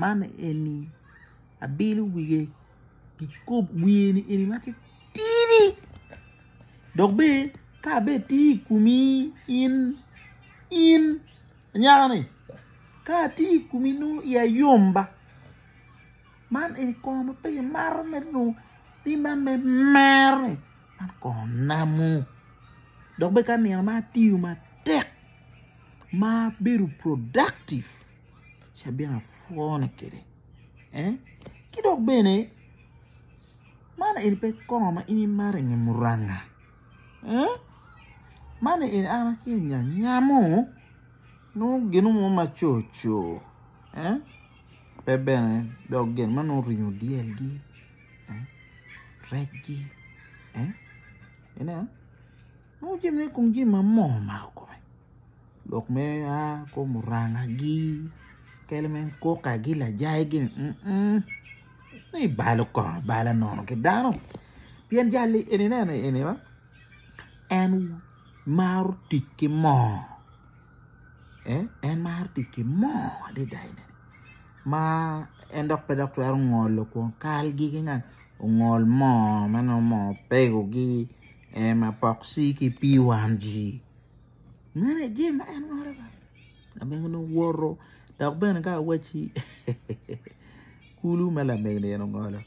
Man eni abino wiye kikopo wiye ni eni matitidi dok bene ka bene tye i komi in in anyaka ni ka atye i komi nongo iya yom ba man eni kongo ma pe kimato mere dong nongo ni man mere mero ni man kongo namo dok bene ka nino ma atiyo matek ma abedo productive. ci abino apwone kwede ki dok bene man eni pe kongo ma in imato i nge muranga man eni an aye nya nyamo nongo gino mo ma coco pe bene dok gin ma nongo oringo dyelgi, rec-ci ineno. Nongo jami i kom jami ma moo omako kome lok me a kom murangagi kadi me kokagi lajaigi ni i balo kong abala nono ki dano pien jali eni ineno eni ma en maro tic ki moo en maro tic ki moo adada ma en dok pe dok twero ngolo kwon kalgi ki ngat ongol moo ma nongo moo pegogi. en mapoksi ki pii wang ji mere jami ma en woto kwede lamego ni owoto dok bene ka awacci kulu ma lamego ni en ongolo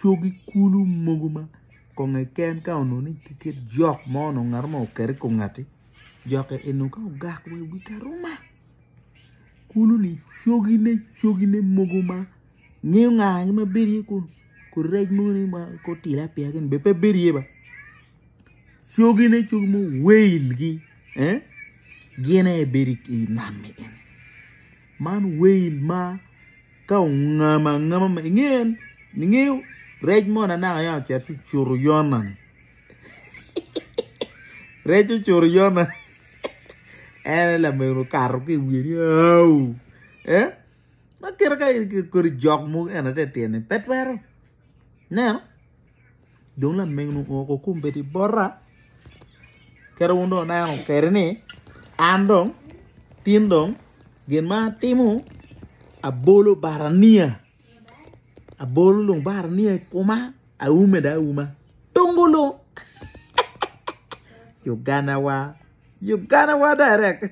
cogi kulu mogo ma konge ken ka onongo ni tye kit jok mo onongo ngat mo oket i kom ngati jokke eni ka ogak wa i wi karuma kulu ni cogine cogine mogo ma Ngeyo nga ni ma bedo iye kunu ko rec mogo ni ma ko tilapia gin bene pe bedo iye ba cogi ne cogi mo whale gi gin aye bedo i nam ni eni man whale ma ka ongamo angama ma inge en ingeyo rec mo na naka yam ocito ci ocuto Yona ni rec ocuto Yona ni en aye lamego okato ki i wiye ni auu. Ma kite ka in kodi jok mogo en aye te tyen ni pe twero ineno dong lamego ni ongo ko kombeddi bota kadi wun dong wuneno kedi ni an dong tin dong gin ma atimo abolo bata niya abolo dong bata niya i koma aume dong auma tungu lung Uganda wa Uganda wa direct.